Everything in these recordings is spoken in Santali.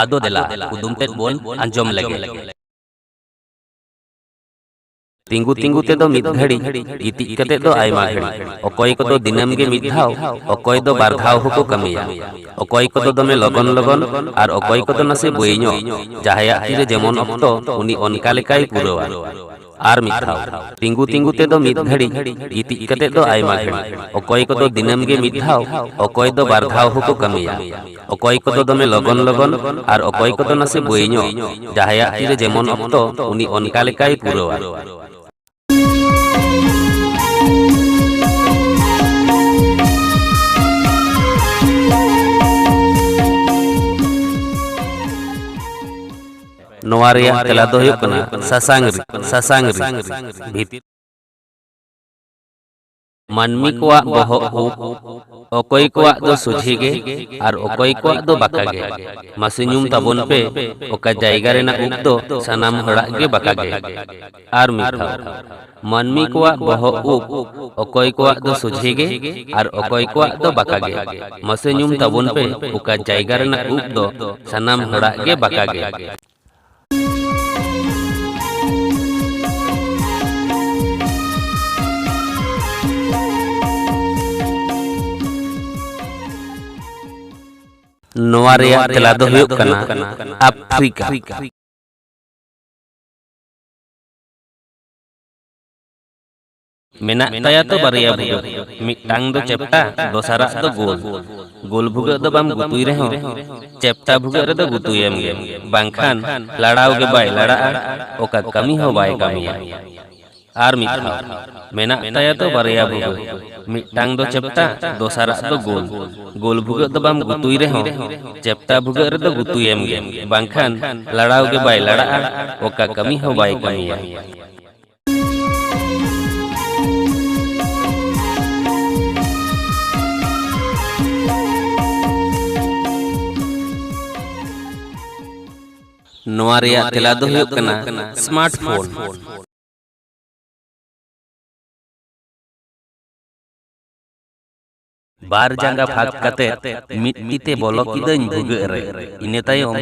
ᱟᱫᱚ ᱫᱮᱞᱟ ᱠᱩᱫᱩᱢ ᱛᱮᱫ ᱵᱚᱱ ᱟᱸᱡᱚᱢ ᱞᱮᱜᱮ ᱛᱤᱸᱜᱩ ᱛᱤᱸᱜᱩ ᱛᱮᱫᱚ ᱢᱤᱫ ᱜᱷᱟᱹᱲᱤ ᱜᱤᱛᱤᱡ ᱠᱟᱛᱮ ᱫᱚ ᱟᱭᱢᱟ ᱜᱷᱟᱹᱲᱤ ᱚᱠᱚᱭ ᱠᱚᱫᱚ ᱫᱤᱱᱟᱹᱢ ᱜᱮ ᱢᱤᱫ ᱫᱷᱟᱣ ᱚᱠᱚᱭ ᱫᱚ ᱵᱟᱨ ᱫᱷᱟᱣ ᱦᱚᱸᱠᱚ ᱠᱟᱹᱢᱤᱭᱟ ᱚᱠᱚᱭ ᱠᱚᱫᱚ ᱫᱚᱢᱮ ᱞᱚᱜᱚᱱ ᱞᱚᱜᱚᱱ ᱟᱨ ᱚᱠᱚᱭ ᱠᱚᱫᱚ ᱱᱟᱥᱮ ᱵᱟᱹᱭ ᱧᱚᱜ ᱡᱟᱦᱟᱸᱭᱟᱜ ᱛᱤᱨᱮ ᱡᱮᱢᱚᱱ ᱚᱠᱛᱚ ᱩᱱᱤ ᱚᱱᱠᱟ ᱞᱮᱠᱟᱭ ᱯᱩᱨᱟᱹᱣᱟ ᱟᱨ ᱢᱤᱫ ᱫᱷᱟᱣ ᱛᱤᱸᱜᱩ ᱛᱤᱸᱜᱩ ᱛᱮᱫᱚ ᱢᱤᱫ ᱜᱷᱟᱹᱲᱤᱡ ᱜᱤᱛᱤᱡ ᱠᱟᱛᱮ ᱫᱚ ᱟᱭᱢᱟ ᱜᱷᱟᱹᱲᱤᱡ ᱚᱠᱚᱭ ᱠᱚᱫᱚ ᱫᱤᱱᱟᱹᱢ ᱜᱮ ᱢᱤᱫ ᱫᱷᱟᱣ ᱚᱠᱚᱭ ᱫᱚ ᱵᱟᱨ ᱫᱷᱟᱣ ᱦᱚᱸᱠᱚ ᱠᱟᱹᱢᱤᱭᱟ ᱚᱠᱚᱭ ᱠᱚᱫᱚ ᱫᱚᱢᱮ ᱞᱚᱜᱚᱱ ᱞᱚᱜᱚᱱ ᱟᱨ ᱚᱠᱚᱭ ᱠᱚᱫᱚ ᱱᱟᱥᱮ ᱵᱟᱹᱭ ᱧᱚᱜ ᱡᱟᱦᱟᱸᱭᱟᱜ ᱛᱤᱨᱮ ᱡᱮᱢᱚᱱ ᱚᱠᱛᱚ ᱩᱱᱤ ᱚᱱᱠᱟ ᱞᱮᱠᱟᱭ ᱯᱩᱨᱟᱹᱣᱟ ᱱᱚᱣᱟ ᱨᱮᱭᱟᱜ ᱛᱮᱞᱟ ᱫᱚ ᱦᱩᱭᱩᱜ ᱠᱟᱱᱟ ᱥᱟᱥᱟᱝ ᱨᱤᱫ ᱥᱟᱥᱟᱝ ᱨᱤᱫ ᱵᱷᱤᱛ ᱢᱟᱹᱱᱢᱤ ᱠᱚᱣᱟᱜ ᱵᱚᱦᱚᱜ ᱩᱵ ᱚᱠᱚᱭ ᱠᱚᱣᱟᱜ ᱫᱚ ᱥᱚᱡᱷᱮ ᱜᱮ ᱟᱨ ᱚᱠᱚᱭ ᱠᱚᱣᱟᱜ ᱫᱚ ᱵᱟᱠᱟ ᱜᱮ ᱢᱟᱥᱮ ᱧᱩᱢ ᱛᱟᱵᱚᱱ ᱯᱮ ᱚᱠᱟ ᱡᱟᱭᱜᱟ ᱨᱮᱱᱟᱜ ᱩᱵ ᱫᱚ ᱥᱟᱱᱟᱢ ᱦᱚᱲᱟᱜ ᱜᱮ ᱵᱟᱠᱟ ᱜᱮ ᱟᱨ ᱢᱤᱫ ᱫᱷᱟᱣ ᱢᱟᱹᱱᱢᱤ ᱠᱚᱣᱟᱜ ᱵᱚᱦᱚᱜ ᱩᱵ ᱚᱠᱚᱭ ᱠᱚᱣᱟᱜ ᱫᱚ ᱥᱚᱡᱷᱮ ᱜᱮ ᱟᱨ ᱚᱠᱚᱭ ᱠᱚᱣᱟᱜ ᱫᱚ ᱵᱟᱠᱟ ᱜᱮ ᱢᱟᱥᱮ ᱧᱩᱢ ᱛᱟᱵᱚᱱ ᱯᱮ ᱚᱠᱟ ᱡᱟᱭᱜᱟ ᱨᱮᱱᱟᱜ ᱩᱵ ᱫᱚ ᱥᱟᱱᱟᱢ ᱦᱚᱲᱟᱜ ᱜᱮ ᱵᱟᱠᱟ ᱜᱮ ᱱᱚᱣᱟ ᱨᱮᱭᱟᱜ ᱛᱮᱞᱟ ᱫᱚ ᱦᱩᱭᱩᱜ ᱠᱟᱱᱟ ᱟᱯᱷᱨᱤᱠᱟ ᱢᱮᱱᱟᱜ ᱛᱟᱭᱟ ᱛᱚ ᱵᱟᱨᱭᱟ ᱵᱷᱩᱜᱟᱹᱜ ᱢᱤᱫᱴᱟᱝ ᱫᱚ ᱪᱮᱯᱴᱟ ᱫᱚᱥᱟᱨᱟᱜ ᱫᱚ ᱜᱳᱞ ᱜᱳᱞ ᱵᱷᱩᱜᱟᱹᱜ ᱫᱚ ᱵᱟᱢ ᱜᱩᱛᱩᱭ ᱨᱮᱦᱚᱸ ᱪᱮᱯᱴᱟ ᱵᱷᱩᱜᱟᱹᱜ ᱨᱮᱫᱚ ᱜᱩᱛᱩᱭᱮᱢ ᱜᱮ ᱵᱟᱝᱠᱷᱟᱱ ᱞᱟᱲᱟᱣ ᱜᱮ ᱵᱟᱭ ᱞᱟᱲᱟᱜᱼᱟ ᱚᱠᱟ ᱠᱟᱹᱢᱤ ᱦᱚᱸ ᱵᱟᱭ ᱠᱟᱹᱢᱤᱭᱟ ᱟᱨ ᱢᱤᱫ ᱫᱷᱟᱣ ᱢᱮᱱᱟᱜ ᱛᱟᱭᱟ ᱛᱚ ᱵᱟᱨᱭᱟ ᱵᱷᱩᱜᱟᱹᱜ ᱢᱤᱫᱴᱟᱝ ᱫᱚ ᱪᱮᱯᱴᱟ ᱫᱚᱥᱟᱨᱟᱜ ᱫᱚ ᱜᱳᱞ ᱜᱳᱞ ᱵᱷᱩᱜᱟᱹᱜ ᱫᱚ ᱵᱟᱢ ᱜᱩᱛᱩᱭ ᱨᱮᱦᱚᱸ ᱪᱮᱯᱴᱟ ᱵᱷᱩᱜᱟᱹᱜ ᱨᱮᱫᱚ ᱜᱩᱛᱩᱭᱮᱢ ᱜᱮ ᱵᱟᱝᱠᱷᱟᱱ ᱞᱟᱲᱟᱣ ᱜᱮ ᱵᱟᱭ ᱞᱟᱲᱟᱜᱼᱟ ᱚᱠᱟ ᱠᱟᱹᱢᱤ ᱦᱚᱸ ᱵᱟᱭ ᱠᱟᱹᱢᱤᱭᱟ ᱱᱚᱣᱟ ᱨᱮᱭᱟᱜ ᱛᱮᱞᱟ ᱫᱚ ᱦᱩᱭᱩᱜ ᱠᱟᱱᱟ ᱥᱢᱟᱨᱴᱯᱷᱳᱱ ᱵᱟᱨ ᱡᱟᱸᱜᱟ ᱯᱷᱟᱸᱠ ᱠᱟᱛᱮ ᱢᱤᱫ ᱛᱤᱛᱮ ᱵᱚᱞᱚ ᱠᱤᱫᱟᱹᱧ ᱵᱷᱩᱜᱟᱹᱜ ᱨᱮ ᱤᱱᱟᱹ ᱛᱟᱭᱚᱢ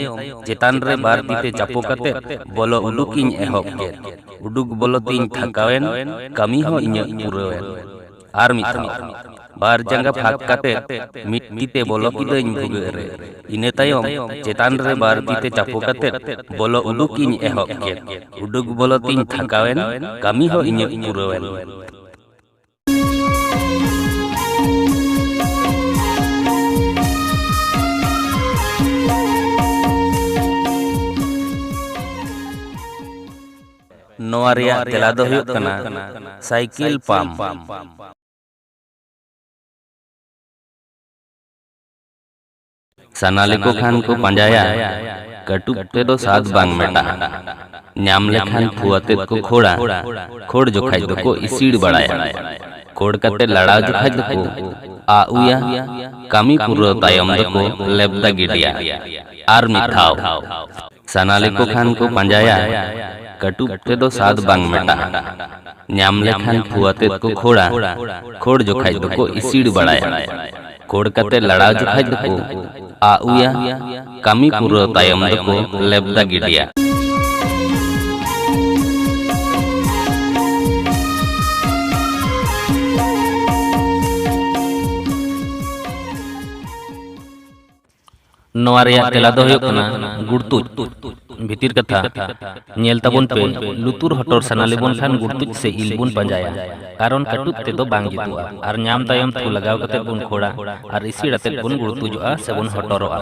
ᱪᱮᱛᱟᱱ ᱨᱮ ᱵᱟᱨ ᱛᱤᱛᱮ ᱪᱟᱯᱚ ᱠᱟᱛᱮ ᱵᱚᱞᱚ ᱩᱰᱩᱠ ᱤᱧ ᱮᱦᱚᱵ ᱠᱮᱫ ᱩᱰᱩᱠ ᱵᱚᱞᱚ ᱛᱤᱧ ᱛᱷᱟᱠᱟᱣᱮᱱ ᱠᱟᱹᱢᱤ ᱦᱚᱸ ᱤᱧᱟᱹᱜ ᱯᱩᱨᱟᱹᱣᱮᱱ ᱟᱨ ᱢᱤᱫ ᱫᱷᱟᱣ ᱵᱟᱨ ᱡᱟᱸᱜᱟ ᱯᱷᱟᱸᱠ ᱠᱟᱛᱮ ᱢᱤᱫ ᱛᱤᱛᱮ ᱵᱚᱞᱚ ᱠᱤᱫᱟᱹᱧ ᱵᱷᱩᱜᱟᱹᱜ ᱨᱮ ᱤᱱᱟᱹ ᱛᱟᱭᱚᱢ ᱪᱮᱛᱟᱱ ᱨᱮ ᱵᱟᱨ ᱛᱤ ᱛᱮ ᱪᱟᱯᱚ ᱠᱟᱛᱮ ᱵᱚᱞᱚ ᱩᱰᱩᱠ ᱤᱧ ᱮᱦᱚᱵ ᱠᱮᱫ᱾ ᱩᱰᱩᱠ ᱵᱚᱞᱚ ᱛᱤᱧ ᱛᱷᱟᱠᱟᱣ ᱮᱱ, ᱠᱟᱹᱢᱤ ᱦᱚᱸ ᱤᱧᱟᱹᱜ ᱯᱩᱨᱟᱹᱣ ᱮᱱ᱾ ᱱᱚᱣᱟ ᱨᱮᱭᱟᱜ ᱛᱮᱞᱟ ᱫᱚ ᱦᱩᱭᱩᱜ ᱠᱟᱱᱟ ᱥᱟᱭᱠᱤᱞ ᱯᱟᱢᱯ᱾ ᱥᱟᱱᱟ ᱞᱮᱠᱚ ᱠᱷᱟᱱ ᱠᱚ ᱯᱟᱸᱡᱟᱭᱟ ᱠᱟᱹᱴᱩᱵ ᱛᱮᱫᱚ ᱥᱟᱫ ᱵᱟᱝ ᱢᱮᱴᱟᱜᱼᱟ ᱧᱟᱢ ᱞᱮᱠᱷᱟᱱ ᱯᱷᱩ ᱟᱛᱮᱫ ᱠᱚ ᱠᱷᱳᱲᱟ ᱠᱷᱳᱲ ᱡᱚᱠᱷᱟᱡ ᱫᱚᱠᱚ ᱤᱥᱤᱲ ᱵᱟᱲᱟᱭᱟ ᱠᱷᱳᱲ ᱠᱟᱛᱮ ᱞᱟᱲᱟᱣ ᱡᱚᱠᱷᱟᱡ ᱫᱚᱠᱚ ᱟ ᱩᱭᱟ ᱠᱟᱹᱢᱤ ᱯᱩᱨᱟᱹᱣ ᱛᱟᱭᱚᱢ ᱫᱚᱠᱚ ᱞᱮᱵᱫᱟ ᱜᱤᱰᱤᱭᱟ ᱟᱨ ᱢᱤᱫ ᱫᱷᱟᱣ ᱥᱟᱱᱟ ᱞᱮᱠᱚ ᱠᱷᱟᱱ ᱠᱚ ᱯᱟᱸᱡᱟᱭᱟ ᱠᱟᱹᱴᱩᱵ ᱛᱮᱫᱚ ᱥᱟᱫ ᱵᱟᱝ ᱢᱮᱴᱟᱜᱼᱟ ᱧᱟᱢ ᱞᱮᱠᱷᱟᱱ ᱯᱷᱩ ᱟᱛᱮᱫ ᱠᱚ ᱠᱷᱳᱲᱟ ᱠᱷᱳᱲ ᱡᱚᱠᱷᱟᱡ ᱫᱚᱠᱚ ᱤᱥᱤᱲ ᱵᱟᱲᱟᱭᱟ ᱠᱷᱳᱲ ᱠᱟᱛᱮ ᱞᱟᱲᱟᱣ ᱡᱚᱠᱷᱟᱡ ᱫᱚᱠᱚ ᱟᱜᱩᱭᱟ ᱠᱟᱹᱢᱤ ᱯᱩᱨᱟᱹᱣ ᱛᱟᱭᱚᱢ ᱫᱚᱠᱚ ᱞᱮᱵᱫᱟ ᱜᱤᱰᱤᱭᱟ ᱱᱚᱣᱟ ᱨᱮᱭᱟᱜ ᱛᱮᱞᱟ ᱫᱚ ᱦᱩᱭᱩᱜ ᱠᱟᱱᱟ ᱜᱩᱲᱛᱩᱡ ᱵᱷᱤᱛᱤᱨ ᱠᱟᱛᱷᱟ ᱧᱮᱞ ᱛᱟᱵᱚᱱ ᱯᱮ ᱞᱩᱛᱩᱨ ᱦᱚᱴᱚᱨ ᱥᱟᱱᱟ ᱞᱮᱵᱚᱱ ᱠᱷᱟᱱ ᱜᱩᱲᱛᱩᱡ ᱥᱮ ᱤᱞ ᱵᱚᱱ ᱯᱟᱸᱡᱟᱭᱟ ᱠᱟᱨᱚᱱ ᱠᱟᱹᱴᱩᱵ ᱛᱮᱫᱚ ᱵᱟᱝ ᱡᱩᱛᱩᱜᱼᱟ ᱟᱨ ᱧᱟᱢ ᱛᱟᱭᱚᱢ ᱛᱷᱩ ᱞᱟᱜᱟᱣ ᱠᱟᱛᱮ ᱵᱚᱱ ᱠᱷᱚᱲᱟ ᱟᱨ ᱤᱥᱤᱲ ᱟᱛᱮ ᱵᱚᱱ ᱜᱩᱲᱛᱩᱡᱚᱜᱼᱟ ᱥᱮ ᱵᱚᱱ ᱦᱚᱴᱚᱨᱚᱜᱼᱟ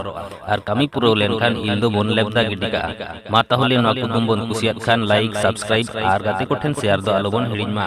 ᱟᱨ ᱠᱟᱹᱢᱤ ᱯᱩᱨᱟᱹᱣ ᱞᱮᱱᱠᱷᱟᱱ ᱤᱞ ᱫᱚ ᱵᱚᱱ ᱞᱮᱵᱫᱟ ᱜᱤᱰᱤ ᱠᱟᱜᱼᱟ ᱢᱟ ᱛᱟᱦᱚᱞᱮ ᱱᱚᱣᱟ ᱠᱩᱫᱩᱢ ᱵᱚᱱ ᱠᱩᱥᱤᱭᱟᱫ ᱠᱷᱟᱱ ᱞᱟᱭᱤᱠ ᱥᱟᱵᱥᱠᱨᱟᱭᱤᱵ ᱟᱨ ᱜᱟᱛᱮ ᱠᱚᱴᱷᱮᱱ ᱥᱮᱭᱟᱨ ᱫᱚ ᱟᱞᱚ ᱵᱚᱱ ᱦᱤᱲᱤᱧ ᱢᱟ